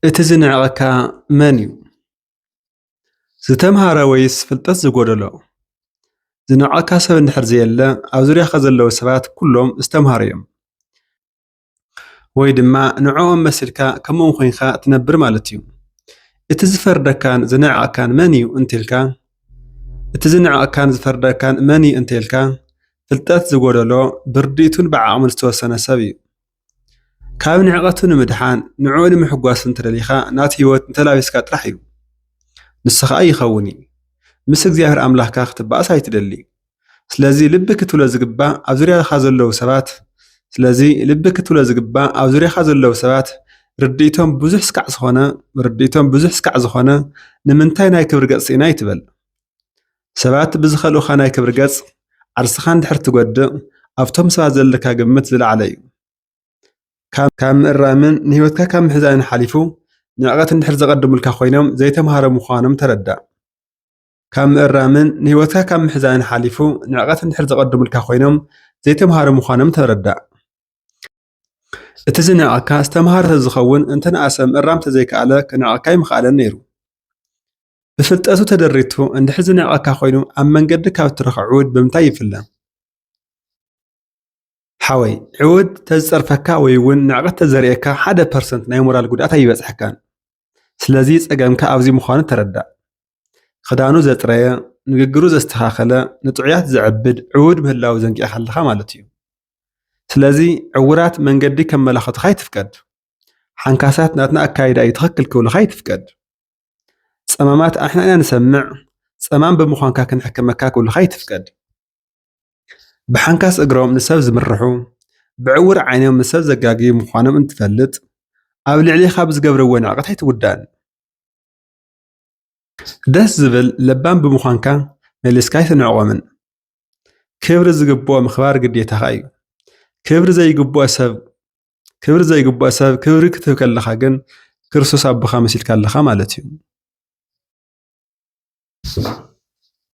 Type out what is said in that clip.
እቲ ዝንዕቐካ መን እዩ? ዝተምሃረ ወይስ ፍልጠት ዝጎደሎ? ዝንዕቐካ ሰብ እንድሕር ዘየለ ኣብ ዙርያኻ ዘለዉ ሰባት ኩሎም ዝተምሃሩ እዮም። ወይ ድማ ንዕኦም መስልካ ከምኦም ኮይንካ ትነብር ማለት እዩ። እቲ ዝፈርደካን ዝንዕቐካን መን እዩ እንተልካ እቲ ዝንዕቐካን ዝፈርደካን መን እዩ እንተልካ ፍልጠት ዝጎደሎ ብርድኢቱን ብዓቕሙን ዝተወሰነ ሰብ እዩ። ካብ ንዕቐቱ ንምድሓን ንዕኡ ንምሕጓስ እንተደሊኻ ናቱ ህይወት እንተላቢስካ ጥራሕ እዩ። ንሱ ኸኣ ይኸውን እዩ። ምስ እግዚኣብሔር ኣምላኽካ ክትበኣስ ኣይትደሊ። ስለዚ ልቢ ክትብሎ ዝግባእ ኣብ ዙርያኻ ዘለዉ ሰባት ስለዚ ልቢ ክትብሎ ዝግባእ ኣብ ዙርያኻ ዘለዉ ሰባት ርድኢቶም ብዙሕ ስካዕ ዝኾነ ርድኢቶም ብዙሕ ስካዕ ዝኾነ ንምንታይ ናይ ክብሪ ገጽ ስኢና ኣይትበል ሰባት ብዝኸልኡኻ ናይ ክብሪ ገጽ ዓርስኻ እንድሕር ትጎድእ ኣብቶም ሰባት ዘለካ ግምት ዝለዓለ እዩ ካብ ምእራምን ንህይወትካ ካብ ምሕዛንን ሓሊፉ ንዕቀት እንድሕር ዘቐድሙልካ ኮይኖም ዘይተምሃሮ ምዃኖም ተረዳእ። ካብ ምእራምን ንህይወትካ ካብ ምሕዛንን ሓሊፉ ንዕቀት እንድሕር ዘቐድሙልካ ኮይኖም ዘይተምሃሩ ምዃኖም ተረዳእ። እቲ ዝንዕቐካ ዝተምሃረ ተዝኸውን እንተንኣሰ ምእራም ተዘይከኣለ ክንዕቐካ ኣይምኸኣለን ነይሩ። ብፍልጠቱ ተደሪቱ እንድሕር ዝንዕቐካ ኮይኑ ኣብ መንገዲ ካብ እትረኽቦ ዕውድ ብምንታይ ይፍለ? ሓወይ ዕውድ ተዝጸርፈካ ወይ እውን ንዕቐት ተዘርእየካ ሓደ ፐርሰንት ናይ ሞራል ጉድኣት ኣይበጽሐካን። ስለዚ ጸገምካ ኣብዚ ምዃኑ ተረዳእ። ኽዳኑ ዘጽረየ፣ ንግግሩ ዘስተኻኸለ፣ ንጥዑያት ዘዕብድ ዕዉድ ምህላዉ ዘንጊዕካ ኣለኻ ማለት እዩ። ስለዚ ዕዉራት መንገዲ ከመላኽቱኻ ኣይትፍቀድ። ሓንካሳት ናትና ኣካይዳ እዩ ትኽክል ክብሉኻ ኣይትፍቀድ። ጸማማት ኣንሕና ኢና ንሰምዕ፣ ጸማም ብምዃንካ ክንሕክመካ ክብሉኻ ኣይትፍቀድ። ብሓንካስ እግሮም ንሰብ ዝምርሑ፣ ብዕዉር ዓይኖም ንሰብ ዘጋግዩ ምዃኖም እንትትፈልጥ፣ ኣብ ልዕሌኻ ብዝገብርዎ ንዕቀት ኣይትጉዳእን። ደስ ዝብል ለባም ብምዃንካ መሊስካ ኣይትንዕቆምን። ክብሪ ዝግብኦ ምኽባር ግዴታኻ እዩ። ክብሪ ዘይግብኦ ሰብ ክብሪ ዘይግብኦ ሰብ ክብሪ ክትህብ ከለኻ ግን ክርስቶስ ኣቦኻ መሲልካ ኣለኻ ማለት እዩ።